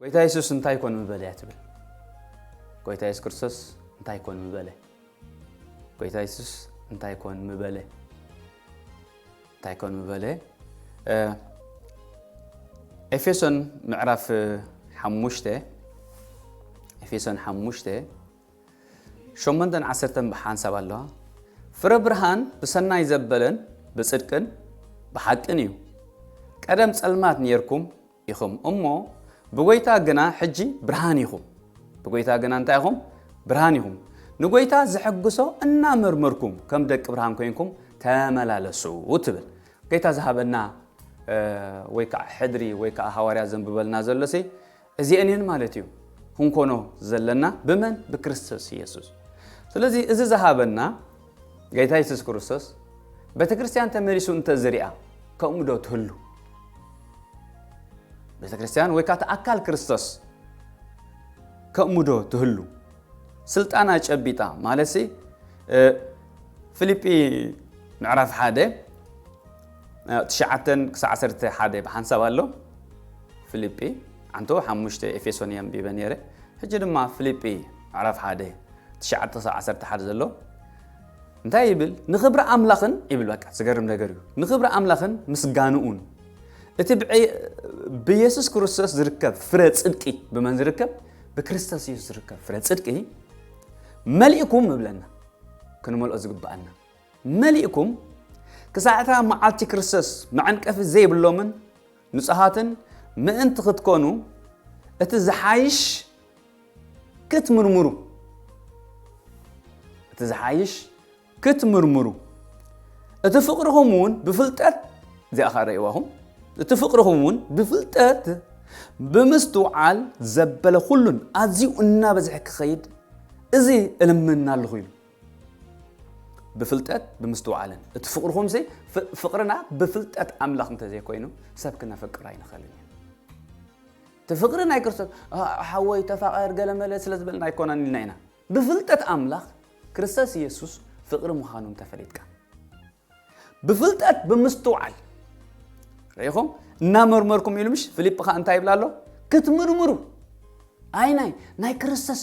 ጎይታ የሱስ እንታይ ኮን ምበለ እያ ትብል ጎይታ የሱስ ክርስቶስ እንታይ ኮን ምበለ ጎይታ የሱስ እንታይ ኮን ምበለ እንታይ ኮን ምበለ ኤፌሶን ምዕራፍ ሓሙሽተ ኤፌሶን ሓሙሽተ ሾመንተን ዓሰርተን ብሓንሳብ ኣለዋ። ፍረ ብርሃን ብሰናይ ዘበለን ብጽድቅን ብሓቅን እዩ። ቀደም ጸልማት ኔርኩም ኢኹም እሞ ብጐይታ ግና ሕጂ ብርሃን ኢኹም። ብጐይታ ግና እንታይ ኢኹም? ብርሃን ኢኹም። ንጐይታ ዘሐግሶ እናመርመርኩም ከም ደቂ ብርሃን ኮይንኩም ተመላለሱ ትብል። ጌታ ዝሃበና ወይ ከዓ ሕድሪ ወይ ከዓ ሃዋርያ ዘንብበልና ዘሎሲ እዚኤን እየን ማለት እዩ ክንኮኖ ዘለና ብመን ብክርስቶስ እየሱስ ስለዚ እዚ ዝሃበና ጌታ የሱስ ክርስቶስ ቤተክርስትያን ተመሊሱ እንተዝሪኣ ከምኡ ዶ ትህሉ ቤተክርስትያን ወይ ካቲ ኣካል ክርስቶስ ከምኡ ዶ ትህሉ ስልጣና ጨቢጣ ማለት ፊልጲ ምዕራፍ ሓደ ትሽዓተ ክሳዕ ዓሰርተ ሓደ ብሓንሳብ ኣሎ ፍልጲ ዓንተቦ ሓሙሽተ ኤፌሶን እየ ኣንቢበ ነይረ ሕጂ ድማ ፍልጲ ምዕራፍ ሓደ ትሽዓተ ክሳብ ዓሰርተ ሓደ ዘሎ እንታይ ይብል ንክብሪ ኣምላኽን ይብል በቃ ዝገርም ነገር እዩ ንክብሪ ኣምላኽን ምስጋንኡን እቲ ብየሱስ ክርስቶስ ዝርከብ ፍረ ፅድቂ ብመን ዝርከብ ብክርስቶስ የሱስ ዝርከብ ፍረ ፅድቂ መሊእኩም እብለና ክንመልኦ ዝግብኣና መሊእኩም ክሳዕ እታ መዓልቲ ክርስቶስ መዐንቀፊ ዘይብሎምን ንጹሃትን ምእንቲ ክትኮኑ እቲ ዝሓይሽ ክትምርምሩ እቲ ዝሓይሽ ክትምርምሩ እቲ ፍቅርኹም እውን ብፍልጠት እዚኣ ኸ ረእዋኹም እቲ ፍቅርኹም እውን ብፍልጠት ብምስትውዓል ዘበለ ኩሉን ኣዝዩ እናበዝሐ ክኸይድ እዚ እልምና ኣለኹ ኢሉ ብፍልጠት ብምስትውዓልን እቲ ፍቕርኹምሲ ፍቕርና ብፍልጠት ኣምላኽ እንተዘይኮይኑ ሰብ ክነፍቅር ኣይንኽእልን እዩ እቲ ፍቕሪ ናይ ክርስቶስ ሓወይ ተፋቐር ገለመለ ስለ ዝበልና ኣይኮነን ኢልና ኢና ብፍልጠት ኣምላኽ ክርስቶስ ኢየሱስ ፍቕሪ ምዃኑ እንተፈሊጥካ ብፍልጠት ብምስትውዓል ርኢኹም እናመርመርኩም ኢሉ ምሽ ፊልጵ ከዓ እንታይ ይብላ ኣሎ ክትምርምሩ ኣይ ናይ ናይ ክርስቶስ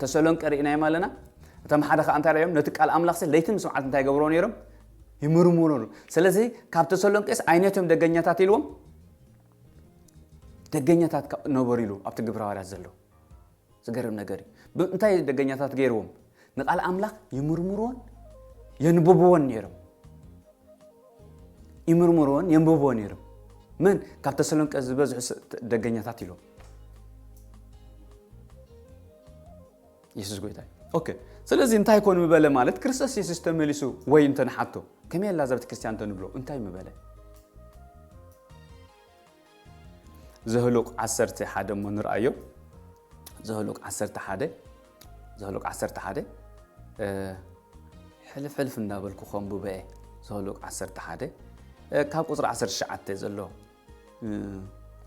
ተሰሎንቀ ርኢናዮም ኣለና እቶም ሓደ ከዓ እንታይ ርዮም ነቲ ቃል ኣምላኽ ሲ ለይትን ምስ መዓልቲ እንታይ ገብሮ ነይሮም ይምርምሩ ሩ ስለዚ ካብ ተሰሎንቄስ ዓይነቶም ደገኛታት ኢልዎም ደገኛታት ነበሩ ኢሉ ኣብቲ ግብረ ሃዋርያት ዘሎ ዝገርም ነገር እዩ እንታይ ደገኛታት ገይርዎም ንቓል ኣምላኽ ይምርምርዎን የንብብዎን ነይሮም። ይምርምርዎን የንብብዎ ነይሮም። መን ካብ ተሰሎንቀ ዝበዝሑ ደገኛታት ኢሎም የሱስ ጎይታ እዩ ኦኬ ስለዚ እንታይ ኮን ምበለ ማለት ክርስቶስ የሱስ ተመሊሱ ወይ እንተንሓቶ ከመይ ኣላ እዛ ቤተ ክርስቲያን እንተንብሎ እንታይ ምበለ ዘኍሉቍ ዓሰርተ ሓደ እሞ ንርኣዮ። ዘኍሉቍ ዓሰርተ ሓደ ዘኍሉቍ ዓሰርተ ሓደ ሕልፍ ሕልፍ እንዳበልኩ ከንብቦ እየ። ዘኍሉቍ ዓሰርተ ሓደ ካብ ቁፅሪ ዓሰርተ ትሽዓተ ዘሎ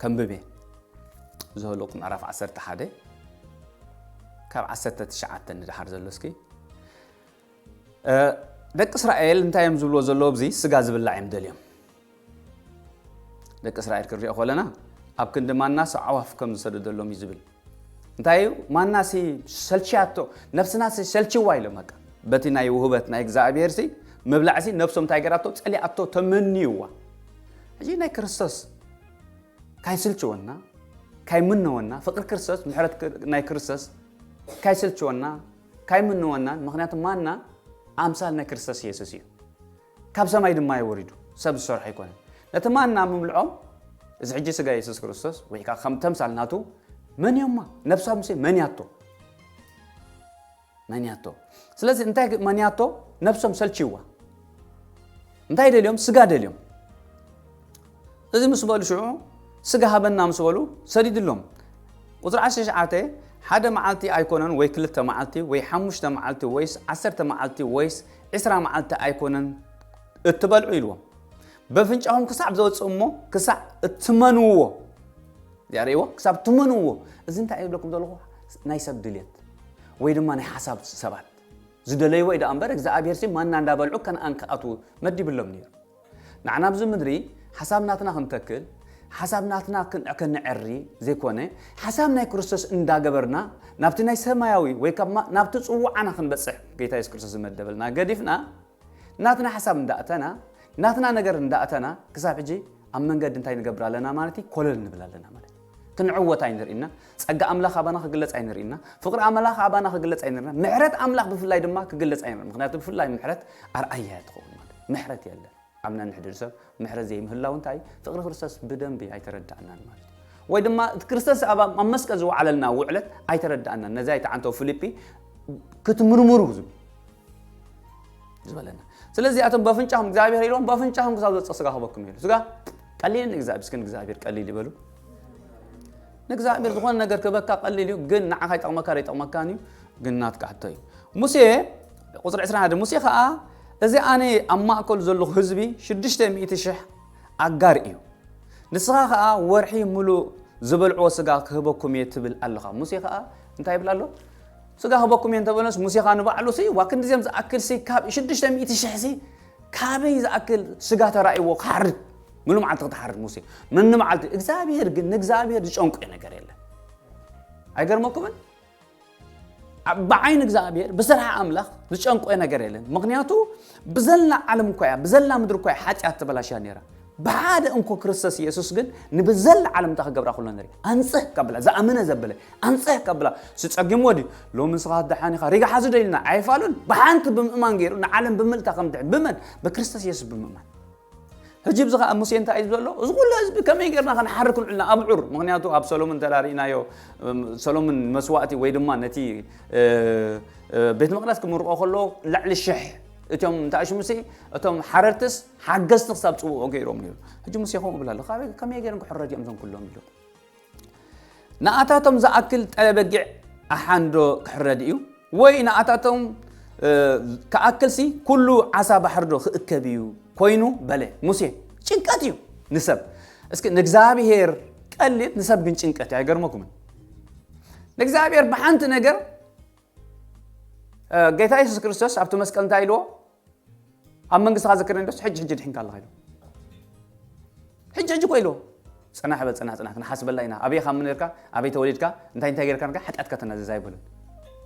ከንብብ እየ። ዘኍሉቍ ምዕራፍ ዓሰርተ ሓደ ካብ ዓሰርተ ትሽዓተ ንደሓር ዘሎ እስኪ ደቂ እስራኤል እንታይ እዮም ዝብልዎ ዘለዉ ኣብዚ ስጋ ዝብላዕ እዮም ደልዮም ደቂ እስራኤል ክንሪኦ ከለና ኣብ ክንዲ ማናስ ኣዕዋፍ ከም ዝሰደደሎም እዩ ዝብል እንታይ እዩ ማናሲ ሰልችያቶ ነብስናሲ ሰልችዋ ኢሎም በቃ በቲ ናይ ውህበት ናይ እግዚኣብሄር ሲ ምብላዕ ሲ ነብሶም እንታይ ገራቶ ጸሊኣቶ ተመንዩዋ ሕጂ ናይ ክርስቶስ ካይስልችወና ካይምነወና ፍቅሪ ክርስቶስ ምሕረት ናይ ክርስቶስ ካይስልችወና ካይምንወናን ምክንያቱ ማና ኣምሳል ናይ ክርስቶስ ኢየሱስ እዩ ካብ ሰማይ ድማ እዩ ወሪዱ ሰብ ዝሰርሖ ኣይኮነን ነቲ ማና ምብልዖም እዚ ሕጂ ስጋ ኢየሱስ ክርስቶስ ወይ ከዓ ከም ተምሳል ናቱ መን እዮማ ነብሳ ሙሴ መን ያቶ መን ያቶ ስለዚ እንታይ መን ያቶ ነብሶም ሰልችዋ እንታይ ደልዮም ስጋ ደልዮም እዚ ምስ በሉ ሽዑ ስጋ ሃበና ምስ በሉ ሰዲድሎም ቁፅሪ ዓሰርተ ትሽዓተ ሓደ መዓልቲ ኣይኮነን ወይ ክልተ መዓልቲ ወይ ሓሙሽተ መዓልቲ ወይስ ዓሰርተ መዓልቲ ወይስ ዕስራ መዓልቲ ኣይኮነን እትበልዑ ኢልዎም በፍንጫኹም ክሳዕ ዘወፅእ እሞ ክሳዕ እትመንዎ እዚኣ ርእይዎ ክሳብ እትመንዎ እዚ እንታይ ይብለኩም ዘለኹ ናይ ሰብ ድልየት ወይ ድማ ናይ ሓሳብ ሰባት ዝደለይዎ እዩ ደኣ እምበር እግዝኣብሄርሲ ማና እንዳ በልዑ ከንኣን ክኣትዉ መዲብሎም ነይሩ ንዓና ኣብዚ ምድሪ ሓሳብ ናትና ክንተክል ሓሳብ ናትና ከነዐሪ ዘይኮነ ሓሳብ ናይ ክርስቶስ እንዳ ገበርና ናብቲ ናይ ሰማያዊ ወይ ከማ ናብቲ ጽውዓና ክንበጽሕ ጌታ የሱስ ክርስቶስ ዝመደበልና ገዲፍና ናትና ሓሳብ እንዳ እተና ናትና ነገር እንዳ እተና ክሳብ ሕጂ ኣብ መንገዲ እንታይ ንገብር ኣለና ማለት እዩ ኮለል ንብል ኣለና ማለት እዩ ክንዕወት ኣይንርኢና ጸጋ ኣምላኽ ኣባና ክግለጽ ኣይንርኢና ፍቕሪ ኣምላኽ ኣባና ክግለጽ ኣይንርኢና ምሕረት ኣምላኽ ብፍላይ ድማ ክግለጽ ኣይንርኢና ምክንያቱ ብፍላይ ምሕረት ኣርኣያ እያ ትኸውን ማለት ምሕረት የለን ኣብ ነንሕድሪ ሰብ ምሕረት ዘይምህላው እንታይ ፍቕሪ ክርስቶስ ብደንቢ ኣይተረዳእናን ማለት ወይ ድማ ክርስቶስ ኣብ መስቀል ዝወዓለልና ውዕለት ኣይተረዳእናን ነዚ ኣይተዓንተው ፊልጲ ክትምርምሩ ዝብል ዝበለና ስለዚ ኣቶም በፍንጫኹም እግዚኣብሔር ኢሎም በፍንጫኹም ክሳብ ዘፀ ስጋ ክበኩም እዩ ስጋ ቀሊል ንእግዚኣብሔር እስኪ ንእግዚኣብሔር ቀሊል ይበሉ ንእግዚኣብሔር ዝኾነ ነገር ክበካ ቀሊል እዩ ግን ንዓኻ ይጠቕመካ ዶ ይጠቕመካን እዩ ግን ናትካ ሕቶ እዩ ሙሴ ቁፅሪ 21 ሙሴ ከዓ እዚ ኣነ ኣብ ማእከሉ ዘለኹ ህዝቢ 600 ሽሕ ኣጋር እዩ ንስኻ ከዓ ወርሒ ምሉእ ዝበልዕዎ ስጋ ክህበኩም እየ ትብል ኣለኻ ሙሴ ከዓ እንታይ ይብል ኣሎ ስጋ ክህበኩም እየ እንተበለስ ሙሴ ከዓ ንባዕሉ ሲ ዋ ክንዲዚኦም ዝኣክል ሲ ካብ 600 ሽሕ ሲ ካበይ ዝኣክል ስጋ ተራእይዎ ክሓርድ ምሉ መዓልቲ ክትሓርድ ሙሴ ምኒ መዓልቲ እግዚኣብሄር ግን ንእግዚኣብሄር ዝጨንቆ ነገር የለን ኣይገርመኩምን ብዓይኒ እግዚኣብሄር ብስራሕ ኣምላኽ ዝጨንቆ ነገር የለን ምክንያቱ ብዘላ ዓለም እኳ እያ ብዘላ ምድሪ እኳ እያ ሓጢኣት ተበላሽያ ነራ ብሓደ እንኮ ክርስቶስ ኢየሱስ ግን ንብዘላ ዓለም እንታ ክገብራ ኩሎ ንርኢ ኣንጽህ ካብላ ዝኣመነ ዘበለ ኣንጽህ ካብላ ስጸጊምዎ ድዩ ሎሚ ንስኻ ደሓን ኢኻ ሪጋ ሓዙ ዶ ኢልና ኣይፋሉን ብሓንቲ ብምእማን ገይሩ ንዓለም ብምልታ ከም ድሕን ብመን ብክርስቶስ ኢየሱስ ብምእማን ሕጂ ብዚ ከዓ ሙሴ እንታይ እዩ ዘሎ እዚ ኩሉ ህዝቢ ከመይ ጌርና ክንሓርክ ንዕልና ኣብዑር ምክንያቱ ኣብ ሰሎምን ተራሪእናዮ ሰሎምን መስዋእቲ ወይ ድማ ነቲ ቤት መቅደስ ክምርቆ ከሎ ልዕሊ ሽሕ እቶም እንታይ ሽሙሲ እቶም ሓረርትስ ሓገዝቲ ክሳብ ፅውኦ ገይሮም ነይሩ ሕጂ ሙሴ ከምኡ ብላ ኣሎ ካበይ ከመይ ገይሮም ክሕረድ እዮም እዞም ኩሎም ኢሎም ንኣታቶም ዝኣክል ጠለበጊዕ ኣሓንዶ ክሕረድ እዩ ወይ ንኣታቶም ክኣክልሲ ኩሉ ዓሳ ባሕርዶ ክእከብ እዩ ኮይኑ በለ ሙሴ ጭንቀት እዩ ንሰብ እስኪ ንእግዚኣብሄር ቀሊል ንሰብ ግን ጭንቀት እዩ ኣይገርመኩምን ንእግዚኣብሄር ብሓንቲ ነገር ጌታ የሱስ ክርስቶስ ኣብቲ መስቀል እንታይ ኢልዎ ኣብ መንግስትኻ ዘክረኒ ዶስ ሕጂ ሕጂ ድሕንካ ኣለኻ ኢልዎ ሕጂ ሕጂ ኮ ኢልዎ ፅናሕ በል ፅናሕ ፅናሕ ክንሓስበላ ኢና ኣበይ ካብ ምንርካ ኣበይ ተወሊድካ እንታይ እንታይ ጌርካ ንካ ሓጢኣትካ ተናዘዝ ኣይበሉን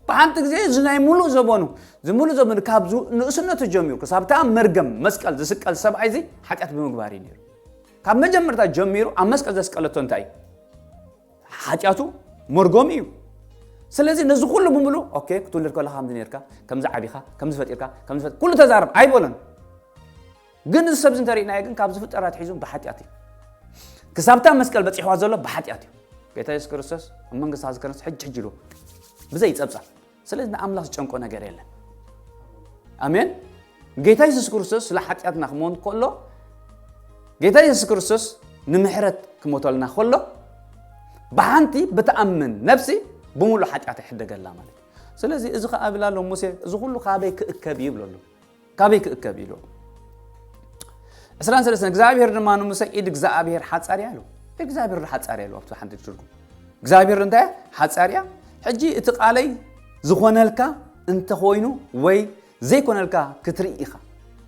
ብሓንቲ ግዜ እዚ ናይ ሙሉእ ዘበኑ እዚ ሙሉእ ዘበኑ ካብ ንእስነቱ ጀሚሩ ክሳብታ መርገም መስቀል ዝስቀል ሰብኣይ እዚ ሓጢኣት ብምግባር እዩ ነይሩ ካብ መጀመርታ ጀሚሩ ኣብ መስቀል ዘስቀለቶ እንታይ እዩ ሓጢኣቱ መርጎም እዩ ስለዚ ነዚ ኩሉ ብምሉ ኦኬ ክትውልድ ከለካ ከምዚ ነርካ ከምዚ ዓቢኻ ከምዚ ፈጢርካ ከምዚ ፈጥ ኩሉ ተዛረብ ኣይበሎን ግን እዚ ሰብዚ እንተሪእናዮ ግን ካብ ዝፍጠር ኣትሒዙ ብሓጢኣት እዩ ክሳብታ መስቀል በፂሕዋ ዘሎ ብሓጢኣት እዩ ጌታ የሱስ ክርስቶስ መንግስታ ዝከነስ ሕጂ ሕጂ ኢሉ ብዘይ ፀብፃብ ስለዚ ንኣምላኽ ዝጨንቆ ነገር የለን ኣሜን ጌታ የሱስ ክርስቶስ ስለ ሓጢኣትና ክመን ከሎ ጌታ የሱስ ክርስቶስ ንምሕረት ክመተልና ከሎ ብሓንቲ ብትኣምን ነፍሲ ብምሉእ ሓጢኣት ይሕደገላ ማለት እዩ ስለዚ እዚ ከኣ ብላ ኣሎ ሙሴ እዚ ኩሉ ካበይ ክእከብ ይብለሉ ካበይ ክእከብ ኢሉ ዕስራን ሰለስተን እግዚኣብሔር ድማ ንሙሰ ኢድ እግዚኣብሔር ሓፃር እያ ኢሉ እግዚኣብሔር ሓፃር እያ ኢሉ ኣብቲ ሓንቲ ትርጉም እግዚኣብሔር እንታይ ሓፃር እያ ሕጂ እቲ ቃለይ ዝኾነልካ እንተኾይኑ ወይ ዘይኮነልካ ክትርኢ ኢኻ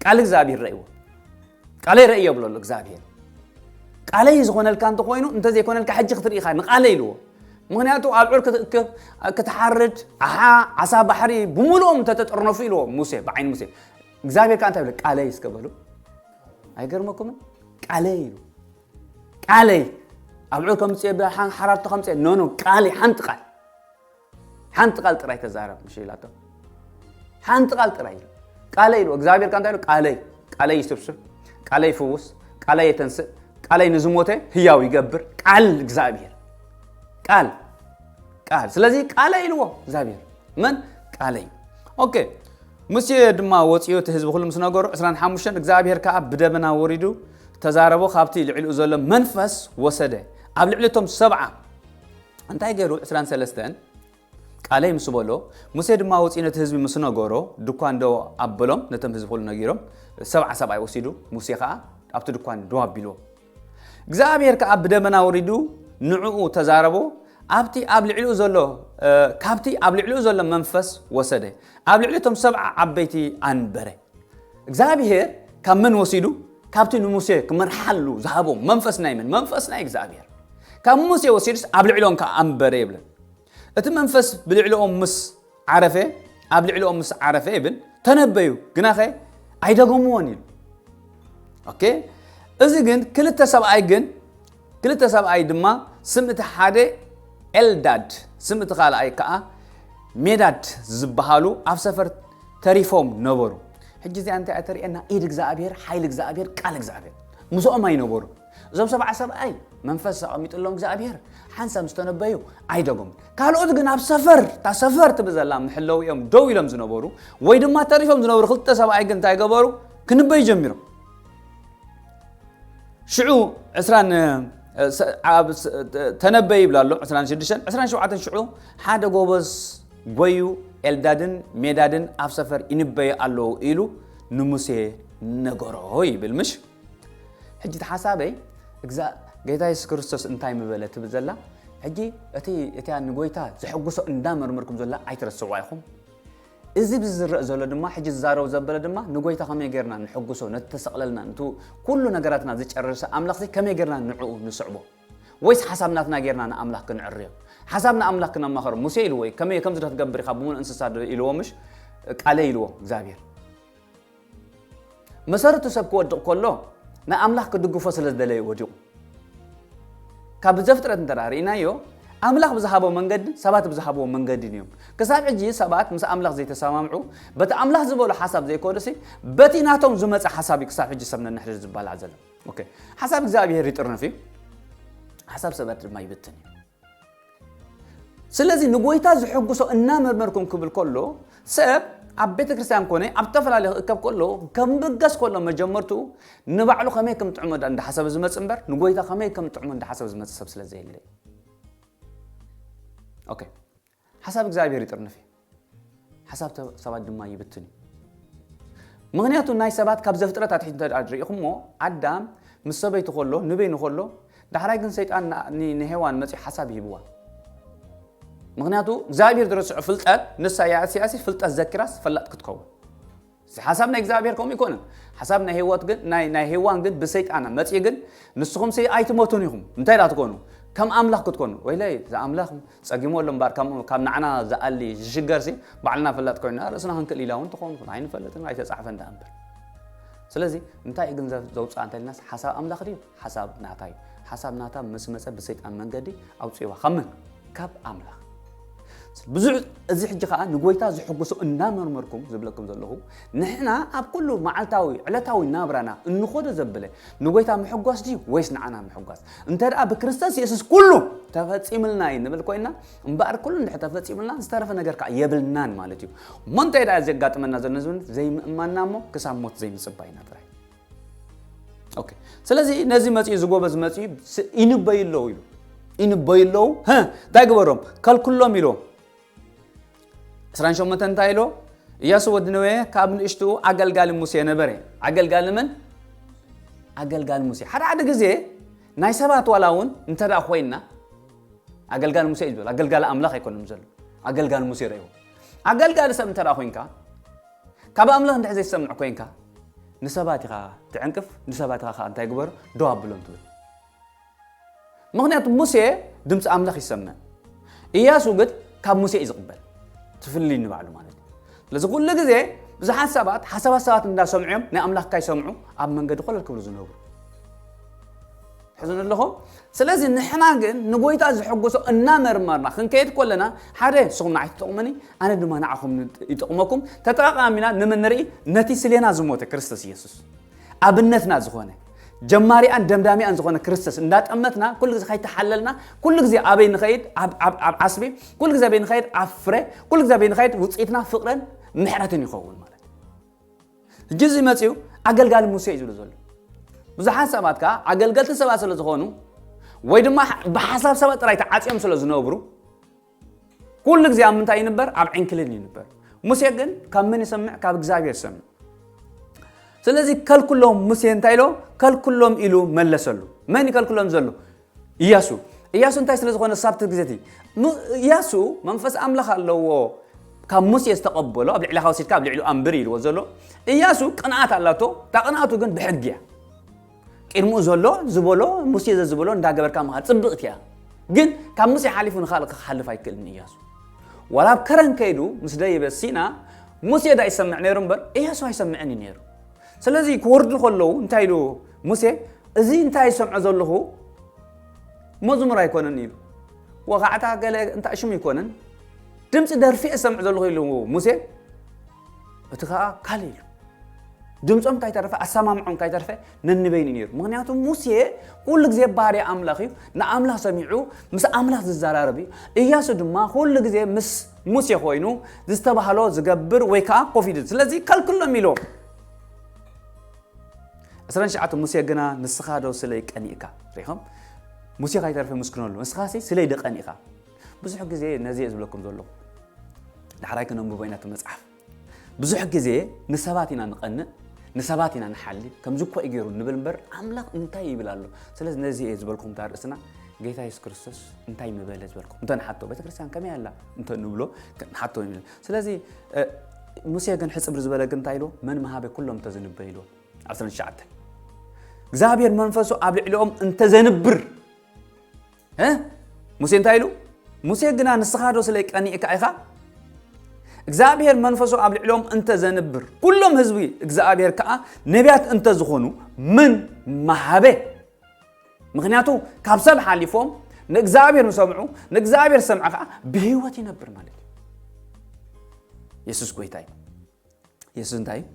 ቃል እግዚኣብሔር ረእይዎ ቃለይ ረእዮ ብሎ ኣሎ እግዚኣብሄር ቃለይ ዝኾነልካ እንተኾይኑ እንተዘይኮነልካ ሕጂ ክትርኢ ኢኻ ንቃለይ ኢልዎ ምክንያቱ ኣብ ዑር ክትእክብ ክትሓርድ ኣሓ ዓሳ ባሕሪ ብምሉኦም እንተተጠርነፉ ኢልዎ ሙሴ ብዓይኒ ሙሴ እግዚኣብሄር ከዓ እንታይ ብለ ቃለይ እስከ በሉ ኣይገርመኩምን ቃለይ ኢሉ ቃለይ ኣብ ዑር ከምፅ ሓራርቶ ከምፅ ኖኖ ቃለይ ሓንቲ ቃል ሓንቲ ቃል ጥራይ ተዛረብ ምሽ ኢላቶ ሓንቲ ቃል ጥራይ ኢሉ ቃለይ ኢሉ እግዚኣብሔር ካ እንታይ ኢሉ ቃለይ ቃለይ ይስብስብ ቃለይ ይፍውስ ቃለይ የተንስእ ቃለይ ንዝሞተ ህያው ይገብር ቃል እግዚኣብሔር ቃል ቃል ስለዚ ቃለይ ኢልዎ እግዚኣብሔር መን ቃለይ ኦኬ ሙሴ ድማ ወፅዮ እቲ ህዝቢ ኩሉ ምስ ነገሩ 25 እግዚኣብሔር ከዓ ብደመና ወሪዱ ተዛረቦ ካብቲ ልዕሊኡ ዘሎ መንፈስ ወሰደ ኣብ ልዕሊ እቶም ሰብዓ እንታይ ገሩ ዕስራን ሰለስተን ቃለይ ምስ በሎ ሙሴ ድማ ወጺኡ ነቲ ህዝቢ ምስ ነገሮ ድኳን ደው ኣበሎም ነቶም ህዝቢ ኩሉ ነጊሮም ሰብዓ ሰብኣይ ወሲዱ ሙሴ ከኣ ኣብቲ ድኳን ደው ኣቢልዎ እግዚኣብሔር ከኣ ብደመና ወሪዱ ንዕኡ ተዛረቦ ኣብቲ ኣብ ልዕሊኡ ዘሎ ካብቲ ኣብ ልዕሊኡ ዘሎ መንፈስ ወሰደ ኣብ ልዕሊ እቶም ሰብዓ ዓበይቲ ኣንበረ እግዚኣብሔር ካብ መን ወሲዱ ካብቲ ንሙሴ ክመርሓሉ ዝሃቦ መንፈስ ናይ መን መንፈስ ናይ እግዚኣብሔር ካብ ሙሴ ወሲዱስ ኣብ ልዕሎም ከዓ ኣንበረ ይብለን እቲ መንፈስ ብልዕሊኦም ምስ ዓረፈ ኣብ ልዕሊኦም ምስ ዓረፈ ይብል ተነበዩ ግናኸ ኣይደገምዎን እዩ ኦኬ እዚ ግን ክልተ ሰብኣይ ግን ክልተ ሰብኣይ ድማ ስም እቲ ሓደ ኤልዳድ ስም እቲ ካልኣይ ከኣ ሜዳድ ዝበሃሉ ኣብ ሰፈር ተሪፎም ነበሩ። ሕጂ እዚኣ እንታይ እያ ተርእየና? ኢድ እግዚኣብሔር፣ ሓይሊ እግዚኣብሔር፣ ቃል እግዚኣብሔር ምስኦም ኣይነበሩ። እዞም ሰብዓ ሰብኣይ መንፈስ ኣቐሚጥሎም እግዚኣብሔር ሓንሳብ ዝተነበዩ ኣይደጎም። ካልኦት ግን ኣብ ሰፈር እታ ሰፈር ትብል ዘላ ምሕለው እዮም ደው ኢሎም ዝነበሩ ወይ ድማ ተሪፎም ዝነበሩ ክልተ ሰብኣይ ግን እንታይ ገበሩ? ክንበዩ ጀሚሮም። ሽዑ ዕስራን ተነበይ ይብላ ኣሎ ዕስራን ሽዱሽተን ዕስራን ሸውዓተን ሽዑ ሓደ ጎበዝ ጎዩ ኤልዳድን ሜዳድን ኣብ ሰፈር ይንበዩ ኣለዉ ኢሉ ንሙሴ ነገሮ ይብል ምሽ ሕጂ እቲ ሓሳበይ እዛ ጌታ የሱስ ክርስቶስ እንታይ ምበለ ትብል ዘላ ሕጂ እቲ እቲያ ንጎይታ ዘሐጉሶ እንዳመርምርኩም ዘላ ኣይትረስዕዋ ኢኹም እዚ ብዚ ዝረእ ዘሎ ድማ ሕጂ ዝዛረቡ ዘበለ ድማ ንጎይታ ከመይ ገርና ንሕጉሶ ነቲ ተሰቅለልና ንቲ ኩሉ ነገራትና ዝጨርርሰ ኣምላኽሲ ከመይ ገርና ንዕኡ ንስዕቦ ወይስ ሓሳብ ናትና ገርና ንኣምላኽ ክንዕርዮ ሓሳብ ንኣምላኽ ክነማኸሮ ሙሴ ኢልዎ እዩ ከመይ ከምዚ ዶ ትገብር ኢኻ ብምሉእ እንስሳ ዶ ኢልዎ ምሽ ቃለይ ኢልዎ እግዚኣብሔር መሰረቱ ሰብ ክወድቕ ከሎ ንኣምላኽ ክድግፎ ስለ ዝደለየ ወዲቑ። ካብ ዘፍጥረት እንተ ርእናዮ ኣምላኽ ብዝሃቦ መንገዲ ሰባት ብዝሃብዎ መንገዲን እዮም ክሳብ ሕጂ ሰባት ምስ ኣምላኽ ዘይተሰማምዑ በቲ ኣምላኽ ዝበሎ ሓሳብ ዘይኮኑሲ በቲ ናቶም ዝመፀ ሓሳብ እዩ ክሳብ ሕጂ ሰብ ነንሕድር ዝባላዕ ዘሎ ሓሳብ እግዚኣብሄር ይጥርንፍ እዩ ሓሳብ ሰባት ድማ ይብትን እዩ ስለዚ ንጎይታ ዝሕጉሶ እናመርመርኩም ክብል ከሎ ሰብ ኣብ ቤተ ክርስቲያን ኮነ ኣብ ዝተፈላለየ ክእከብ ከሎ ከምብገስ ከሎ መጀመርቱ ንባዕሉ ከመይ ከም ጥዕሞ እንዳሓሰበ ዝመፅ እምበር ንጎይታ ከመይ ከም ጥዕሞ እንዳሓሰበ ዝመፅ ሰብ ስለ ዘየለ ኦኬ ሓሳብ እግዚኣብሔር ይጥርንፍ እዩ፣ ሓሳብ ሰባት ድማ ይብትን እዩ። ምኽንያቱ ናይ ሰባት ካብ ዘፍጥረት ኣትሒት እንተድኣ ርኢኹሞ ኣዳም ምስ ሰበይቱ ከሎ ንበይኑ ከሎ ዳሕራይ ግን ሰይጣን ንሄዋን መፅኡ ሓሳብ ሂብዋ ምክንያቱ እግዚኣብሔር ዝረስዖ ፍልጠት ንሳ ያእስያሲ ፍልጠት ዘኪራስ ፈላጥ ክትከውን እዚ ሓሳብ ናይ እግዚኣብሔር ከምኡ ኣይኮነን ሓሳብ ናይ ሄዋት ግን ናይ ናይ ሄዋን ግን ብሰይጣን መጽኢ ግን ንስኹም ሲ ኣይትሞቱን ኢኹም እንታይ ዳ ትኮኑ ከም ኣምላኽ ክትኮኑ ወይለይ ዝኣምላኽ ጸጊሞ ኣሎ እምበር ካብ ንዓና ዝኣሊ ዝሽገር ሲ ባዕልና ፍላጥ ኮይና ርእስና ክንክእል ኢላ እውን ትኾኑ ኣይንፈልጥን ኣይተጻሕፈን ዳኣ እምበር ስለዚ እንታይ ግን ዘውጽኣ እንተልናስ ሓሳብ ኣምላኽ ድዩ ሓሳብ ናታ እዩ ሓሳብ ናታ ምስ መፀ ብሰይጣን መንገዲ ኣውፅዋ ካብ መን ካብ ኣምላኽ ብዙሕ እዚ ሕጂ ከዓ ንጎይታ ዝሕጉሶ እናመርመርኩም ዝብለኩም ዘለኹ ንሕና ኣብ ኩሉ መዓልታዊ ዕለታዊ ናብራና እንኾዶ ዘብለ ንጎይታ ምሕጓስ ድዩ ወይስ ንዓና ምሕጓስ እንተ ደኣ ብክርስቶስ የሱስ ኩሉ ተፈፂምልና እዩ ንብል ኮይና እምበኣር ኩሉ እንድሕ ተፈፂምልና ዝተረፈ ነገር ከዓ የብልናን ማለት እዩ እሞ እንታይ ደኣ ዘጋጥመና ዘሎ ዘይምእማንና እሞ ክሳብ ሞት ዘይምፅባይና ጥራይ ኦኬ ስለዚ ነዚ መፅኡ እዚ ጎበዝ መፅኡ ስ- ይንበዩ ኣለዉ ኢሉ ይንበዩ ኣለዉ ህ እንታይ ግበሮም ከልክሎም ኢሎ 28 እንታይ ኢሎ ኢያሱ ወዲ ነዌ ካብ ንእሽትኡ ኣገልጋሊ ሙሴ ነበረ ኣገልጋሊ መን ኣገልጋሊ ሙሴ ሓደ ሓደ ግዜ ናይ ሰባት ዋላ እውን እንተ ደኣ ኮይንና ኣገልጋሊ ሙሴ እዩ ዝበል ኣገልጋሊ ኣምላኽ ኣይኮነም ዘሎ ኣገልጋሊ ሙሴ ረእዎ ኣገልጋሊ ሰብ እንተ ደኣ ኮንካ ካብ ኣምላኽ እንድሕር ዘይትሰምዕ ኮይንካ ንሰባት ኢኻ ትዕንቅፍ ንሰባት ኢኻ ከኣ እንታይ ግበሩ ደው ኣብሎም ትብል ምኽንያቱ ሙሴ ድምፂ ኣምላኽ ይሰምዕ እያሱ ግን ካብ ሙሴ እዩ ዝቕበል ትፍልይ ንባዕሉ ማለት እዩ ስለዚ ኩሉ ግዜ ብዙሓት ሰባት ሓሳባት ሰባት እንዳሰምዑ እዮም ናይ ኣምላኽ ካይሰምዑ ኣብ መንገዲ ኮለል ክብሉ ዝነብሩ ትሕዝኑ ኣለኹም። ስለዚ ንሕና ግን ንጎይታ ዘሐጎሶ እናመርመርና ክንከይድ ኮለና ሓደ ንስኹም ንዓይ ትጠቕሙኒ ኣነ ድማ ንዓኹም ይጠቕመኩም ተጠቓቓሚና ንመን ንርኢ ነቲ ስሌና ዝሞተ ክርስቶስ ኢየሱስ ኣብነትና ዝኾነ ጀማሪኣን ደምዳሚኣን ዝኾነ ክርስቶስ እንዳጠመትና ኩሉ ግዜ ከይተሓለልና ኩሉ ግዜ ኣበይ ንኸይድ ኣብ ዓስቢ ኩሉ ግዜ ኣበይ ንኸይድ ኣብ ፍረ ኩሉ ግዜ ኣበይ ንኸይድ ውፅኢትና ፍቕርን ምሕረትን ይኸውን ማለት ሕጂ እዚ መጺኡ ኣገልጋሊ ሙሴ እዩ ዝብሎ ዘሎ። ብዙሓት ሰባት ከኣ ኣገልገልቲ ሰባት ስለ ዝኾኑ ወይ ድማ ብሓሳብ ሰባት ጥራይ ተዓጽዮም ስለ ዝነብሩ ኩሉ ግዜ ኣብ ምንታይ ይንበር? ኣብ ዕንክሊል ይንበር። ሙሴ ግን ካብ መን ይሰምዕ? ካብ እግዚኣብሔር ይሰምዕ። ስለዚ ከልኩሎም ሙሴ እንታይ ኢሎ? ከልኩሎም ኢሉ መለሰሉ። መን ይከልኩሎም ዘሎ? እያሱ እያሱ እንታይ ስለ ዝኾነ ሳብቲ ግዜ እቲ እያሱ መንፈስ ኣምላኽ ኣለዎ ካብ ሙሴ ዝተቐበሎ ኣብ ልዕሊ ወሲድካ ኣብ ልዕሊ ኣንብር ኢልዎ ዘሎ እያሱ ቅንኣት ኣላቶ እታ ቅንኣቱ ግን ብሕጊ እያ ቅድሚኡ ዘሎ ዝበሎ ሙሴ ዘዝበሎ እንዳገበርካ ምኻ ፅብቕቲ እያ ግን ካብ ሙሴ ሓሊፉ ንካልእ ክሓልፍ ኣይክእልን እያሱ ዋላ ኣብ ከረን ከይዱ ምስ ደይበ ሲና ሙሴ ዳ ይሰምዕ ነይሩ እምበር እያሱ ኣይሰምዕን እዩ ነይሩ ስለዚ ክወርዱ ከለዉ እንታይ ኢሉ ሙሴ፣ እዚ እንታይ ዝሰምዖ ዘለኹ መዝሙር ኣይኮነን ኢሉ። ወኻዕታ ገለ እንታይ ሽም ኣይኮነን፣ ድምፂ ደርፊ እየ ዝሰምዕ ዘለኹ ኢሉ ሙሴ፣ እቲ ከዓ ካልእ ኢሉ። ድምፆም ካይተረፈ ኣሰማምዖም ካይተረፈ ነንበይኑ ነይሩ ምክንያቱ ሙሴ ኩሉ ግዜ ባርያ ኣምላኽ እዩ ንኣምላኽ ሰሚዑ ምስ ኣምላኽ ዝዘራረብ እዩ እያሱ ድማ ኩሉ ግዜ ምስ ሙሴ ኮይኑ ዝተባህሎ ዝገብር ወይ ከኣ ኮፍ ኢሉ ስለዚ ከልክሎም ኢሎ ዕስራን ትሽዓተ ሙሴ ግና ንስኻ ዶ ስለይ ቀኒእካ ሪኢኹም ሙሴ ካይተርፈ ምስክነሉ ንስኻ ሲ ስለይ ደቀኒእኻ ብዙሕ ግዜ ነዚ እየ ዝብለኩም ዘለኹ ዳሕራይ ክነንብቦ ኢና እቲ መፅሓፍ ብዙሕ ግዜ ንሰባት ኢና ንቐንእ ንሰባት ኢና ንሓሊ ከምዚ እኳ እዩ ገይሩ ንብል እምበር ኣምላኽ እንታይ ይብል ኣሎ ስለዚ ነዚ እየ ዝበልኩም እታ ርእስና ጌታ የሱስ ክርስቶስ እንታይ ምበለ ዝበልኩም እንተ ንሓቶ ቤተ ክርስቲያን ከመይ ኣላ እንተ ንብሎ ንሓቶ ስለዚ ሙሴ ግን ሕፅብሪ ዝበለ ግን እንታይ ኢልዎ መን መሃበ ኩሎም እንተዘንበ ኢልዎ 19 እግዚኣብሔር መንፈሱ ኣብ ልዕሊኦም እንተዘንብር እ ሙሴ እንታይ ኢሉ ሙሴ ግና ንስኻዶ ስለ ቀኒእካ ኢኻ እግዚኣብሔር መንፈሱ ኣብ ልዕሎም እንተ ዘንብር ኩሎም ህዝቢ እግዚኣብሔር ከዓ ነቢያት እንተ ዝኾኑ ምን መሃበ ምክንያቱ ካብ ሰብ ሓሊፎም ንእግዚኣብሔር ምሰምዑ ንእግዚኣብሔር ሰምዐ ከዓ ብህይወት ይነብር ማለት እዩ የሱስ ጎይታ እዩ የሱስ እንታይ እዩ?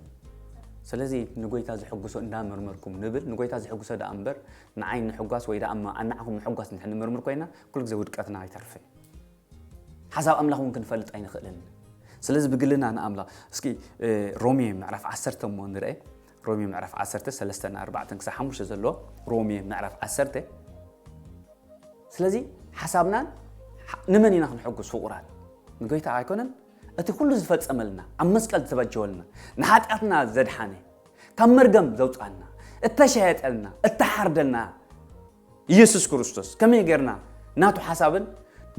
ስለዚ ንጎይታ ዝሕጉሶ እንዳመርመርኩም ንብል ንጎይታ ዝሕጉሶ ደኣ እምበር ንዓይ ንምሕጓስ ወይ ደኣ ኣናዕኹም ምሕጓስ እንድሕር ንምርምር ኮይና ኩሉ ግዜ ውድቀትና ኣይተርፍን ሓሳብ ኣምላኽ እውን ክንፈልጥ ኣይንኽእልን ስለዚ ብግልና ንኣምላኽ እስኪ ሮሜ ምዕራፍ ዓሰርተ እሞ ንርአ ሮሜ ምዕራፍ ዓሰርተ ሰለስተ ንኣርባዕተን ክሳብ ሓሙሽተ ዘሎ ሮሜ ምዕራፍ ዓሰርተ ስለዚ ሓሳብናን ንመን ኢና ክንሕጉስ ፍቑራት ንጎይታ ኣይኮነን እቲ ኩሉ ዝፈጸመልና ኣብ መስቀል ዝተበጀወልና ንሓጢኣትና ዘድሓነ ካብ መርገም ዘውጽኣና እተሸየጠልና እተሓርደልና ኢየሱስ ክርስቶስ ከመይ ጌርና ናቱ ሓሳብን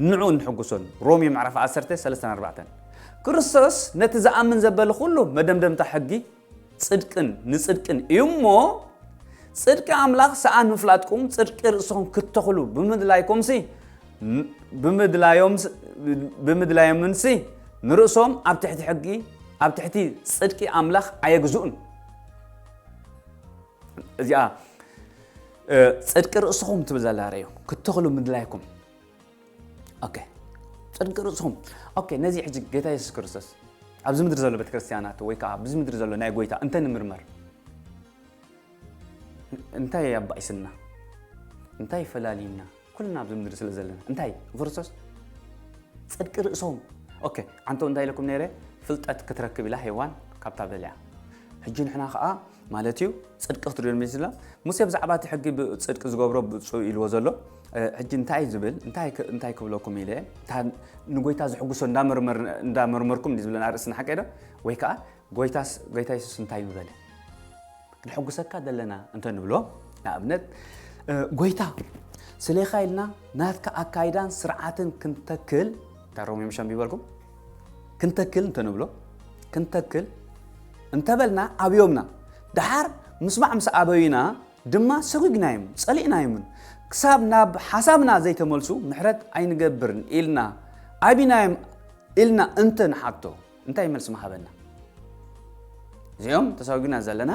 ንዑ እንሕጉሶን ሮሜ ምዕራፍ 10 3 4 ክርስቶስ ነቲ ዝኣምን ዘበለ ኩሉ መደምደምታ ሕጊ ጽድቅን ንጽድቅን እዩ እሞ ጽድቂ ኣምላኽ ሰኣን ምፍላጥኩም ጽድቂ ርእስኹም ክትተኽሉ ብምድላይኩምሲ ብምድላዮምንሲ ንርእሶም ኣብ ትሕቲ ሕጊ ኣብ ትሕቲ ጽድቂ ኣምላኽ ኣየግዝኡን እዚኣ ጽድቂ ርእስኹም ትብል ዘላ ርእዮ ክትተኽሉ ምድላይኩም ኦኬ ጽድቂ ርእስኹም ኦኬ ነዚ ሕጂ ጌታ የሱስ ክርስቶስ ኣብዚ ምድሪ ዘሎ ቤተ ክርስቲያናት ወይ ከዓ ብዚ ምድሪ ዘሎ ናይ ጎይታ እንተ ንምርመር እንታይ ኣባኢስና እንታይ ፈላልዩና ኩልና ኣብዚ ምድሪ ስለ ዘለና እንታይ ክርስቶስ ጽድቂ ርእሶም ኦኬ ዓንቶ እንታይ ኢለኩም ነይረ ፍልጠት ክትረክብ ኢላ ሄዋን ካብታ በልያ ሕጂ ንሕና ከዓ ማለት እዩ ፅድቂ ክትሪኦ ሚስላ ሙሴ ብዛዕባ እቲ ሕጊ ፅድቂ ዝገብሮ ብፁ ኢልዎ ዘሎ ሕጂ እንታይ እዩ ዝብል እንታይ እንታይ ክብለኩም ኢለ እታ ንጎይታ ዝሕጉሶ እንዳመርመርኩም እንዲ ዝብለና ርእስና ሓቀይ ዶ ወይ ከዓ ጎይታስ ጎይታ የሱስ እንታይ ምበለ ንሕጉሰካ ዘለና እንተ ንብሎ ንኣብነት ጎይታ ስሌኻ ኢልና ናትካ ኣካይዳን ስርዓትን ክንተክል እታ ሮሜ ምሽ ኣንቢበልኩም ክንተክል እንተ ንብሎ ክንተክል እንተበልና ኣብዮምና ድሓር ምስማዕ ምስ ኣበዩና ድማ ሰጒግናዮም ጸሊእናዮምን ክሳብ ናብ ሓሳብና ዘይተመልሱ ምሕረት ኣይንገብርን ኢልና ኣቢናዮም ኢልና እንተ ንሓቶ እንታይ መልሲ ምሃበና? እዚኦም ተሰጒግና ዘለና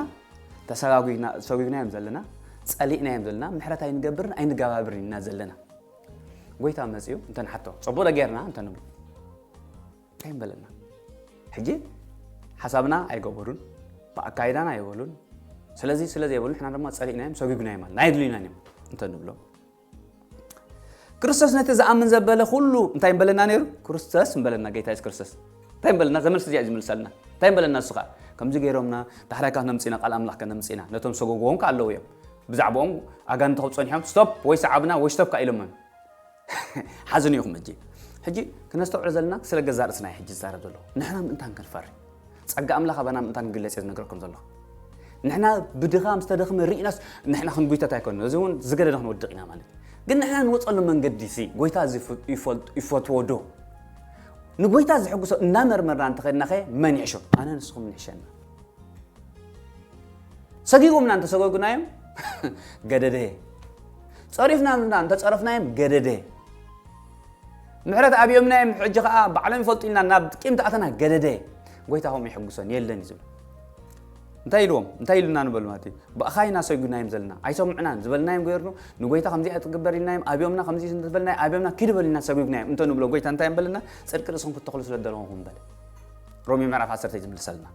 ተሰጒግናዮም ዘለና ጸሊእናዮም ዘለና ምሕረት ኣይንገብርን ኣይንገባብርን ኢና ዘለና ጎይታ መጺኡ እንተ ንሓቶ ጸቡቕ ጌርና እንተ ንብሎ እንታይ ምበለና ሕጂ ሓሳብና ኣይገበሩን ብኣካይዳና ኣይበሉን ስለዚ ስለ ዘይበሉ ንሕና ድማ ፀሊእናዮም ሰጒግናዮም ኣለና ኣየድልዩናን እዮም እንተ ንብሎም ክርስቶስ ነቲ ዝኣምን ዘበለ ኩሉ እንታይ ምበለና ነይሩ ክርስቶስ ምበለና ጌታ የሱስ ክርስቶስ እንታይ ምበለና ዘመልሲ እዚኣ ዝምልሰልና እንታይ ምበለና ንሱ ከዓ ከምዚ ገይሮምና ዳሕራይ ካብ ነምፅና ቃል ኣምላኽ ከነምፅና ነቶም ሰጎጎዎም ከዓ ኣለዉ እዮም ብዛዕባኦም ኣጋንንቲ ክብ ፀኒሖም ስቶፕ ወይ ሰዓብና ወይ ስቶፕ ከዓ ኢሎምም ሓዙኒ ኢኹም ሕጂ ሕጂ ክነስተውዕሎ ዘለና ስለ ገዛ ርእስና ሕጂ ዝዛረብ ዘሎ ንሕና ምእንታን ክንፈሪ ጸጋ ኣምላኽ ኣባና ምእንታን ክግለጽ እየ ዝነገረኩም ዘለኹ ንሕና ብድኻም ዝተደኽመ ርኢናስ ንሕና ክንጉይተት ኣይኮነ እዚ እውን ዝገደደ ክንወድቕ ኢና ማለት ግን ንሕና ንወፀሉ መንገዲ ሲ ጎይታ እዚ ይፈትዎ ዶ ንጎይታ ዝሕጉሶ እናመርመርና እንተኸድና ኸ መን ይሕሾ ኣነ ንስኹም ንሕሸና ሰጊጎምና እንተሰገጉናዮም ገደደ ጸሪፍናዮም እና እንተ ጸረፍናዮም ገደደ ምሕረት ኣብዮምናዮም ሕጂ ከኣ ባዕሎም ይፈልጡ ኢልና ናብ ቂም ተኣተና ገደደ ጎይታ ከምኡ ይሕጉሶን የለን እዩ ዝብል እንታይ ኢልዎም እንታይ ኢሉና ንበሉ ማለት እዩ ብእኻ ኢና ሰጒናዮም ዘለና ኣይሰምዑናን ዝበልናዮም ገይርኑ ንጎይታ ከምዚ ኣይትግበር ኢልናዮም ኣብዮምና ከምዚ ዝበልና ኣብዮምና ኪድ በሉ ኢና ሰጒግናዮም እንተ ንብሎ ጎይታ እንታይ እዮም በለና ፅድቂ ርእስኹም ክትተኽሉ ስለ ዘለኹም በለ ሮሜ ምዕራፍ 10 እዩ ዝምልሰልና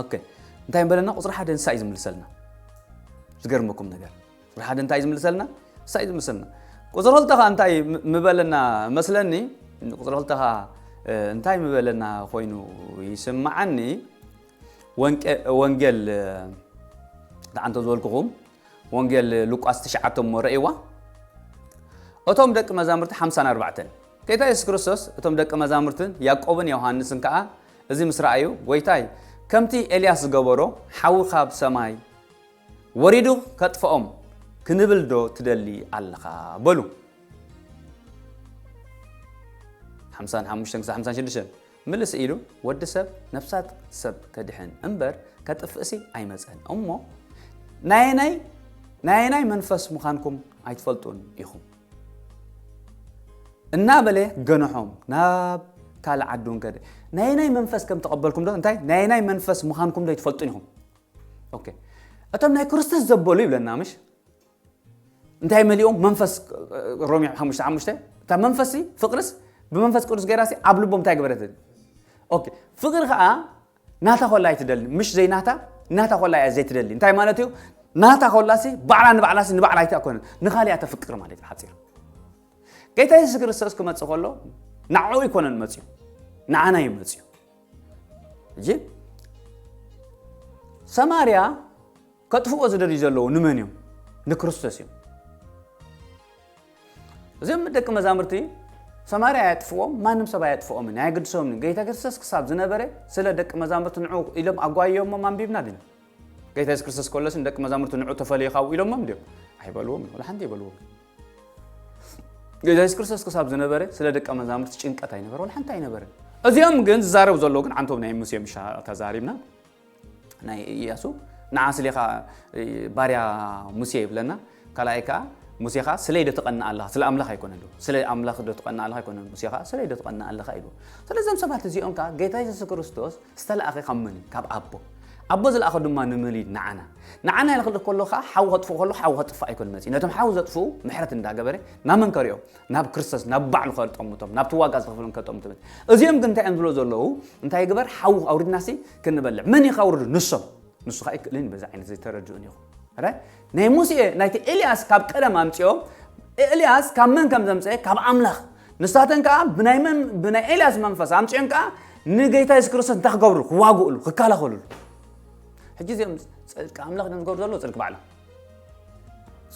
ኦኬ እንታይ በለና ቁፅሪ ሓደ ንሳ እዩ ዝምልሰልና ዝገርመኩም ነገር ፍርሓት እንታይ ዝምልሰልና ንሳ እዩ ዝምልሰልና ቁፅሪ ክልተ ከዓ እንታይ ምበለና መስለኒ ቁፅሪ ክልተ ከዓ እንታይ ምበለና ኮይኑ ይስምዓኒ ወንጌል ተዓንቶ ዝበልኩኹም ወንጌል ሉቃስ ትሽዓተ እሞ ረእይዋ እቶም ደቂ መዛሙርቲ ሓምሳን ኣርባዕተን ጌታ የሱስ ክርስቶስ እቶም ደቂ መዛሙርትን ያዕቆብን ዮሃንስን ከዓ እዚ ምስ ረኣዩ ጎይታይ ከምቲ ኤልያስ ዝገበሮ ሓዊ ካብ ሰማይ ወሪዱ ከጥፍኦም ክንብል ዶ ትደሊ ኣለኻ በሉ። ሓምሳን ሓሙሽተን ክሳብ ሓምሳን ሽዱሽተን ምልስ ኢሉ ወዲ ሰብ ነፍሳት ሰብ ከድሕን እምበር ከጥፍእሲ ኣይመፀን እሞ ናየናይ ናየናይ መንፈስ ምዃንኩም ኣይትፈልጡን ኢኹም እናበለ ገንሖም ናብ ካልእ ዓዲ እውን ከደ ናየናይ መንፈስ ከም ተቐበልኩም ዶ እንታይ ናየናይ መንፈስ ምዃንኩም ዶ ኣይትፈልጡን ኢኹም ኦኬ እቶም ናይ ክርስቶስ ዘበሉ ይብለና ምሽ እንታይ መሊኦም መንፈስ ሮሜ ሓሙሽተ ሓሙሽተ እታ መንፈስ ፍቅርስ ብመንፈስ ቅዱስ ገይራሲ ኣብ ልቦም እንታይ ገበረት ኦኬ ፍቅሪ ከዓ ናታ ኮላ ኣይትደሊ ምሽ ዘይናታ ናታ ኮላ እያ ዘይትደሊ እንታይ ማለት እዩ ናታ ኮላሲ ባዕላ ንባዕላሲ ንባዕላ ኣይታ ኮነ ንካሊኣ ተፍቅር ማለት እዩ ሓፂር ጌታ የሱስ ክርስቶስ ክመፅእ ከሎ ንዕኡ ይኮነን መፅኡ ንዓና እዩ መፅኡ እጂ ሰማርያ ከጥፍኦ ዝደልዩ ዘለዉ ንመን እዮም ንክርስቶስ እዮም እዚኦም ደቂ መዛሙርቲ ሰማርያ ኣያጥፍዎም ማንም ሰብ ኣያጥፍኦምን ኣየግድሶምን ጌታ ክርስቶስ ክሳብ ዝነበረ ስለ ደቂ መዛሙርቲ ንዑ ኢሎም ኣጓየሞም ኣንቢብና ድን ጌታ የሱስ ክርስቶስ ከሎስ ንደቂ መዛሙርቲ ንዑ ተፈለዩ ካብኡ ኢሎሞም ድዮም ኣይበልዎም ወላ ሓንቲ ይበልዎም ጌታ የሱስ ክርስቶስ ክሳብ ዝነበረ ስለ ደቀ መዛሙርቲ ጭንቀት ኣይነበረ ወላ ሓንቲ ኣይነበረን እዚኦም ግን ዝዛረቡ ዘለዉ ግን ዓንቶም ናይ ሙሴ ምሻ ተዛሪብና ናይ እያሱ ንዓ ስለ ከዓ ባርያ ሙሴ ይብለና ካልኣይ ከዓ ሙሴ ከዓ ስለይ ዶ ትቐና ኣለኻ ስለ ኣምላኽ ኣይኮነ ዶ ስለ ኣምላኽ ዶ ትቐና ኣለኻ ኣይኮነ ሙሴ ከዓ ስለይ ዶ ትቐና ኣለኻ ኢሉ ስለዚም ሰባት እዚኦም ከዓ ጌታ የሱስ ክርስቶስ ዝተላእከ ካብ መን እዩ? ካብ ኣቦ። ኣቦ ዝለኣኾ ድማ ንመን እዩ? ንዓና። ንዓና ኢሉ ክልእኽ ከሎ ከኣ ሓዊ ከጥፍእ ከሎ ሓዊ ከጥፍእ ኣይኮነን መጺኡ። ነቶም ሓዊ ዘጥፍኡ ምሕረት እንዳገበረ ናብ መን ከርእዮም? ናብ ክርስቶስ፣ ናብ ባዕሉ ከጠምቶም፣ ናብቲ ዋጋ ዝኸፈሎም ከጠምቶም እዩ። እዚኦም ግን እንታይ እዮም ዝብሉ ዘለዉ? እንታይ ይግበር? ሓዊ ኣውሪድናሲ ክንበልዕ። መን እዩ ከውርዱ? ንሶም። ንሱ ከኣ ኣይክእልን እዩ በዚ ዓይነት ዘይተረድኡን ኢኹም። ናይ ሙሴ ናይቲ ኤልያስ ካብ ቀደም ኣምጽኦ ኤልያስ ካብ መን ከም ዘምጽኤ ካብ ኣምላኽ ንሳተን ከኣ ብናይ መን ብናይ ኤልያስ መንፈስ ኣምጽኦን ከኣ ንጌታ የሱስ ክርስቶስ እንታይ ክገብርሉ ክዋግእሉ ክከላኸልሉ ሕጂ እዚኦም ጽድቂ ኣምላኽ ድም ዝገብሩ ዘለዎ ጽድቂ ባዕሎም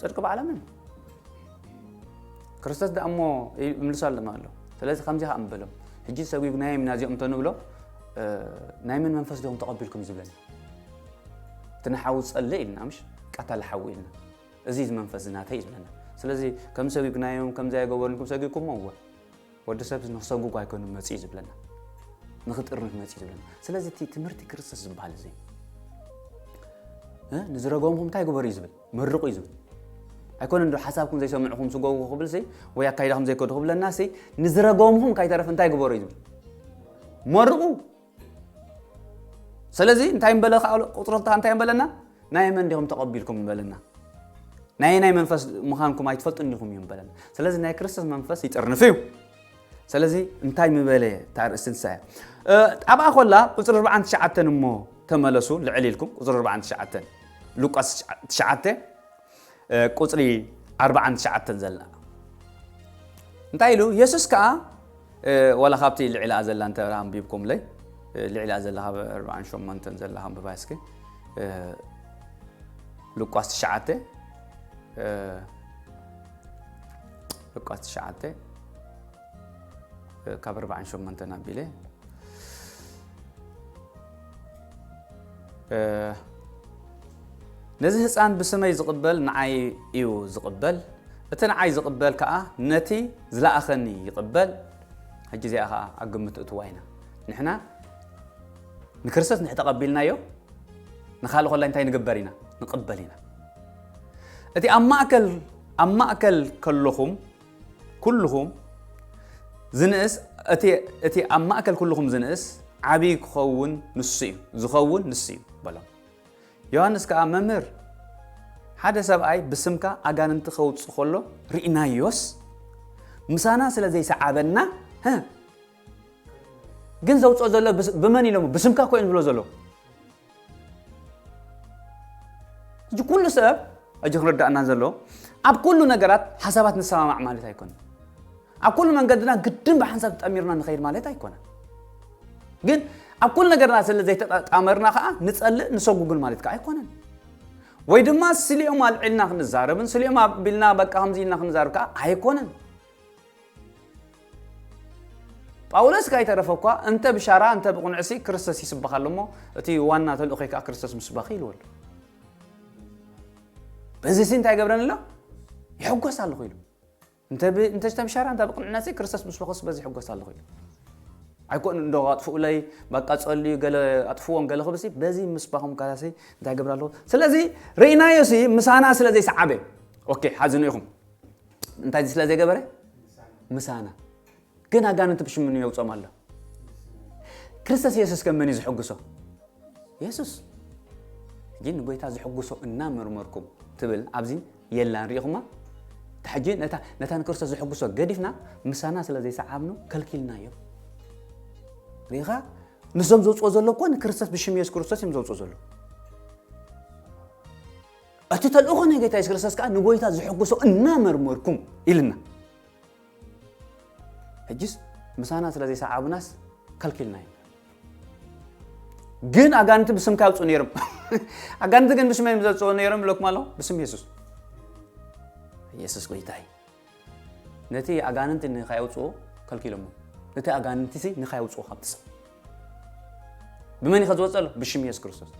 ጽድቂ ባዕሎም እዮም ክርስቶስ ደኣ እሞ ይምልሱ ኣለማ ኣሎ ስለዚ ከምዚ ከዓ ንበሎም ሕጂ ሰጒጉናዮም ኢና እዚኦም እንተንብሎ ናይ መን መንፈስ ዶም ተቐቢልኩም ዝብለኒ እቲ ንሓዊ ጸለ ኢልና ምሽ ቀታሊ ሓዊ ኢልና እዚ ዝመንፈስ ናተይ ዝለና ስለዚ ከም ሰጉግናዮም ከምዚ ኣይገበርንኩም ሰጊኩሞ እወ ወዲ ሰብ ንክሰጉጉ ኣይኮኑ መጽዩ ዝብለና ንክጥርንፍ መጽዩ ዝብለና ስለዚ እቲ ትምህርቲ ክርስቶስ ዝበሃል እዚ ንዝረገምኩም እንታይ ግበሩ እዩ ዝብል መርቑ እዩ ዝብል ኣይኮነ ዶ ሓሳብኩም ዘይሰምዕኹም ስገቡ ክብል ሲ ወይ ኣካይዳኹም ዘይከዱ ክብለና ሲ ንዝረገምኹም ካይተረፍ እንታይ ግበሩ እዩ ዝብል መርቑ ሰለዚ እንታይ ምበለ ከኣ ኣሎ ቁጽሪ ክልተ እንታይ ምበለና ናይ መን ዲኹም ተቐቢልኩም ምበለና ናይ ናይ መንፈስ ምዃንኩም ኣይትፈልጡን ዲኹም እዩ ምበለና ስለዚ ናይ ክርስቶስ መንፈስ ይጥርንፍ እዩ ሰለዚ እንታይ ምበለ ታርእስቲ ንሳ እያ ኣብኣ ኮላ ቁጽሪ 49 እሞ ተመለሱ ልዕል ኢልኩም ቁጽሪ 49 ሉቃስ 9 ቁጽሪ ዓርብዓን ትሽዓተን ዘላ እንታይ ኢሉ የሱስ ከኣ ዋላ ካብቲ ልዒላኣ ዘላ እንተ ኣንቢብኩምለይ ልዒላኣ ዘላ ካብ ኣርብዓን ሸሞንተን ዘላ ኣንብባ እስኪ ሉቃስ ትሽዓተ ሉቃስ ትሽዓተ ካብ ኣርባዓን ሸሞንተን ኣቢለ ነዚ ህፃን ብስመይ ዝቕበል ንዓይ እዩ ዝቕበል እቲ ንዓይ ዝቕበል ከዓ ነቲ ዝለኣኸኒ ይቕበል ሕጂ እዚኣ ከዓ ኣብ ግምት እትዋ ኢና ንሕና ንክርስቶስ ንሕ ተቐቢልናዮ ንካልእ ኮላይ እንታይ ንግበር ኢና ንቕበል ኢና እቲ ኣብ ማእከል ኣብ ማእከል ከለኹም ኩሉኹም ዝንእስ እቲ ኣብ ማእከል ኩሉኹም ዝንእስ ዓብዪ ክኸውን ንሱ እዩ ዝኸውን ንሱ እዩ በሎም ዮሃንስ ከዓ መምህር ሓደ ሰብኣይ ብስምካ ኣጋንንቲ ከውፅ ከሎ ርኢናዮስ ምሳና ስለ ዘይሰዓበና ግን ዘውፅኦ ዘሎ ብመን ኢሎሞ ብስምካ እኮ እዮም ዝብሎ ዘሎ እዚ ኩሉ ሰብ እጅ ክረዳእና ዘሎ ኣብ ኩሉ ነገራት ሓሳባት ንሰማማዕ ማለት ኣይኮነ ኣብ ኩሉ መንገድና ግድን ብሓንሳብ ጠሚርና ንኸይድ ማለት ኣይኮነ ግን ኣብ ኩሉ ነገርና ስለ ዘይተጣመርና ከዓ ንፀልእ ንሰጉግን ማለት ከዓ ኣይኮነን ወይ ድማ ስሊኦም ኣልዒልና ክንዛረብን ስሊኦም ኣቢልና በቃ ከምዚ ኢልና ክንዛረብ ከዓ ኣይኮነን ጳውሎስ ካይተረፈ እኳ እንተ ብሻራ እንተ ብቕኑዕሲ ክርስቶስ ይስበኽ ኣሎ እሞ እቲ ዋና ተልእኾይ ከዓ ክርስቶስ ምስባኽ ኢልዎ ኣሎ በዚ ሲ እንታይ ገብረን ኣሎ ይሕጎስ ኣለኹ ኢሉ እንተ ዝተብሻራ እንተ ብቅንዕነት ክርስቶስ ምስ በኸሱ በዚ ሕጎስ ኣለኹ ኢሉ ኣይኮን እንዶ ኣጥፍኡለይ በቃ ጸልዩ ገለ ኣጥፍዎም ገለ ክብሲ በዚ ምስባኹም ካላሲ እንታይ ገብር ኣለኹ ስለዚ ርኢናዮ ሲ ምሳና ስለ ዘይሰዓበ ኦኬ ሓዝኑ ኢኹም እንታይ ስለ ዘይገበረ ምሳና ግን ኣጋንንቲ ብሽምኑ የውፅኦም ኣሎ ክርስቶስ የሱስ ከም መን እዩ ዝሕግሶ የሱስ ሕጂ ንጎይታ ዝሕግሶ እናመርመርኩም ትብል ኣብዚ የላን ሪኢኹማ ሕጂ ነታ ንክርስቶስ ዝሕግሶ ገዲፍና ምሳና ስለ ዘይሰዓብኑ ከልኪልና እዩ ሪኢኻ ንሶም ዘውፅኦ ዘሎ እኮ ንክርስቶስ ብሽም የሱስ ክርስቶስ እዮም ዘውፅኦ ዘሎ እቲ ተልእኾ ናይ ጐይታ የሱስ ክርስቶስ ከኣ ንጐይታ ዘሐጕሶ እናመርመርኩም ኢሉና። ሕጅስ ምሳና ስለ ዘይሰዓቡናስ ከልኪልና ኢና። ግን ኣጋንንቲ ብስምካ ይውፅኡ ነይሮም። ኣጋንንቲ ግን ብስመይ እዮም ዘውፅኡ ነይሮም ይብለኩም ኣለኹ ብስም የሱስ። የሱስ ጐይታ እዩ። ነቲ ኣጋንንቲ ንኸይውፅኡ ከልኪሎሞ ነቲ ኣጋንንቲ ንኸይውፅኡ ካብቲ ሰብ ብመን እዩ ከዝወፅእ ኣሎ? ብሽም የሱስ ክርስቶስ።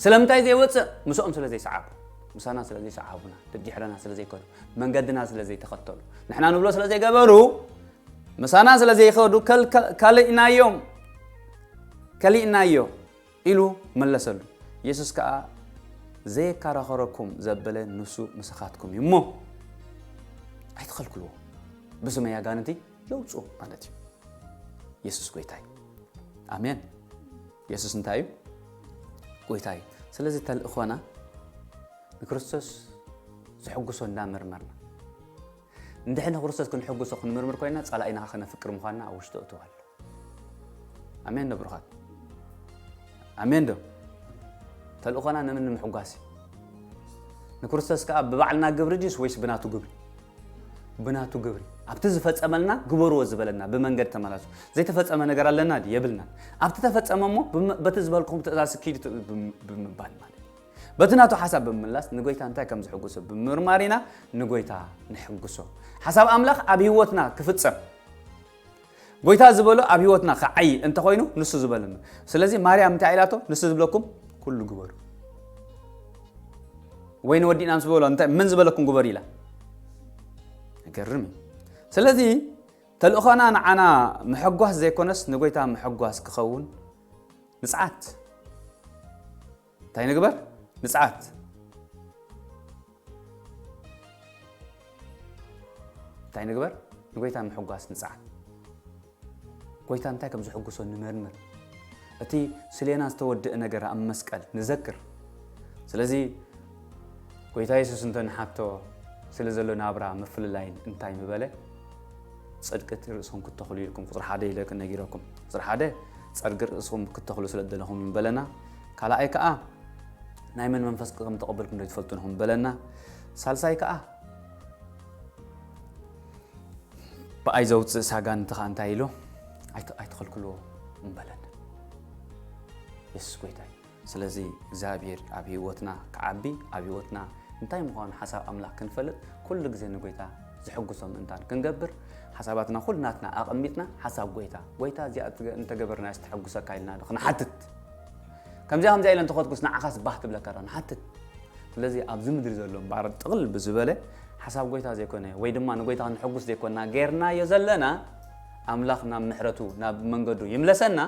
ስለምንታይ ዘይወጽእ ምስኦም ስለ ዘይሰዓቡ ምሳና ስለ ዘይሰዓቡና ደድሕረና ስለ ዘይከዱ መንገድና ስለ ዘይተኸተሉ ንሕና ንብሎ ስለ ዘይገበሩ ምሳና ስለ ዘይኸዱ ካልእናዮም ከሊእናዮ ኢሉ መለሰሉ የሱስ ከዓ ዘየከራኸረኩም ዘበለ ንሱ ምሳኻትኩም እዩ እሞ ኣይትኸልክልዎ ብስመይ ኣጋንንቲ የውፅኡ ማለት እዩ የሱስ ጎይታይ ኣሜን የሱስ እንታይ እዩ? ጐይታ እዩ። ስለዚ ተልእኾና ንክርስቶስ ዘሐጕሶ እንዳመርመርና እንድሕር ንክርስቶስ ክንሕጕሶ ክንምርምር ኮይና ጸላኢና ከነፍቅር ምዃንና ኣብ ውሽጡ እትው ኣሎ። ኣሜን ዶ ብሩኻት? ኣሜን ዶ? ተልእኾና ንምን ንምሕጓስ እዩ? ንክርስቶስ ከዓ ብባዕልና ግብሪ ድዩስ ወይስ ብናቱ ግብሪ? ብናቱ ግብሪ ኣብቲ ዝፈጸመልና ግበርዎ ዝበለና ብመንገድ ተመላሱ ዘይተፈጸመ ነገር ኣለና ድዩ የብልናን ኣብቲ ተፈጸመ እሞ ብም- በቲ ዝበልኩም ትእዛዝ ስኪዱ ት- ብም- ብምባል ማለት እዩ። በቲ ናቱ ሓሳብ ብምምላስ ንጎይታ እንታይ ከም ዝሕጉሶ ብምርማር ኢና ንጎይታ ንሕጉሶ ሓሳብ ኣምላኽ ኣብ ህይወትና ክፍጸም ጎይታ ዝበሎ ኣብ ህይወትና ክዓይ እንተኾይኑ ንሱ ዝበለኑ ስለዚ ማርያም እንታይ ኢላቶ ንሱ ዝብለኩም ኩሉ ግበሩ ወይ ንወዲእና ምስ በሎ እንታይ መን ዝበለኩም ግበሩ ኢላ ገርም እዩ ስለዚ ተልእኾና ንዓና ምሕጓስ ዘይኮነስ ንጎይታ ምሕጓስ ክኸውን ንፅዓት እንታይ ንግበር ንፅዓት እንታይ ንግበር ንጎይታ ምሕጓስ ንፅዓት ጎይታ እንታይ ከም ዝሕጉሶ ንመርምር እቲ ስሌና ዝተወድእ ነገር ኣብ መስቀል ንዘክር ስለዚ ጎይታ የሱስ እንተ ንሓቶ ስለ ዘሎ ናብራ ምፍልላይን እንታይ ምበለ ፅድቂ እቲ ርእሶም ክተኽሉ ኢልኩም ቁፅሪ ሓደ ኢለ ክነጊረኩም ቁፅሪ ሓደ ፀርጊ ርእስኹም ክተኽሉ ስለ ደለኹም ምበለና ካልኣይ ከኣ ናይ መን መንፈስ ከም ተቐበልኩም ዶ ትፈልጡ ንኹም በለና ሳልሳይ ከኣ ብኣይ ዘውፅእ ሳጋን እንተ ከኣ እንታይ ኢሎ ኣይትኸልክልዎ እምበለን የሱስ ጎይታ እዩ ስለዚ እግዚኣብሔር ኣብ ህይወትና ክዓቢ ኣብ ህይወትና እንታይ ምዃኑ ሓሳብ ኣምላኽ ክንፈልጥ ኩሉ ግዜ ንጎይታ ዝሕግሶ ምእንታን ክንገብር ሓሳባትና ኩልናትና ኣቐሚጥና ሓሳብ ጎይታ ጎይታ እዚኣ እንተገበርና ዝተሐጉሰካ ኢልና ክንሓትት ከምዚኣ ከምዚኣ ኢለ እንተኾትኩስ ንዓኻስ ባህ ክብለካ ዶ ንሓትት ስለዚ ኣብዚ ምድሪ ዘሎ እምበኣር ጥቕል ብዝበለ ሓሳብ ጎይታ ዘይኮነ ወይ ድማ ንጎይታ ክንሕጉስ ዘይኮንና ጌርናዮ ዘለና ኣምላኽ ናብ ምሕረቱ ናብ መንገዱ ይምለሰና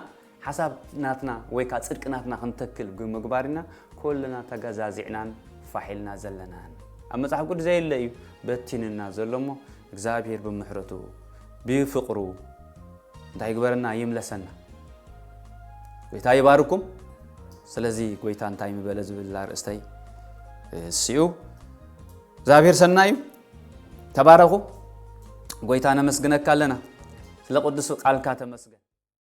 ሓሳብ ናትና ወይ ከዓ ፅድቂ ናትና ክንተክል ብምግባር ኢና ኩልና ተገዛዚዕናን ፋሕ ኢልና ዘለናን ኣብ መፅሓፍ ቅዱስ ዘየለ እዩ በቲንና ዘሎ እሞ እግዚኣብሔር ብምሕረቱ ብፍቅሩ እንታይ ይግበረና ይምለሰና ጎይታ ይባርኩም ስለዚ ጎይታ እንታይ ምበለ ዝብል ኣርእስተይ እስኡ እግዚኣብሔር ሰናይ እዩ ተባረኹ ጎይታ ነመስግነካ ኣለና ስለ ቅዱስ ቃልካ ተመስገን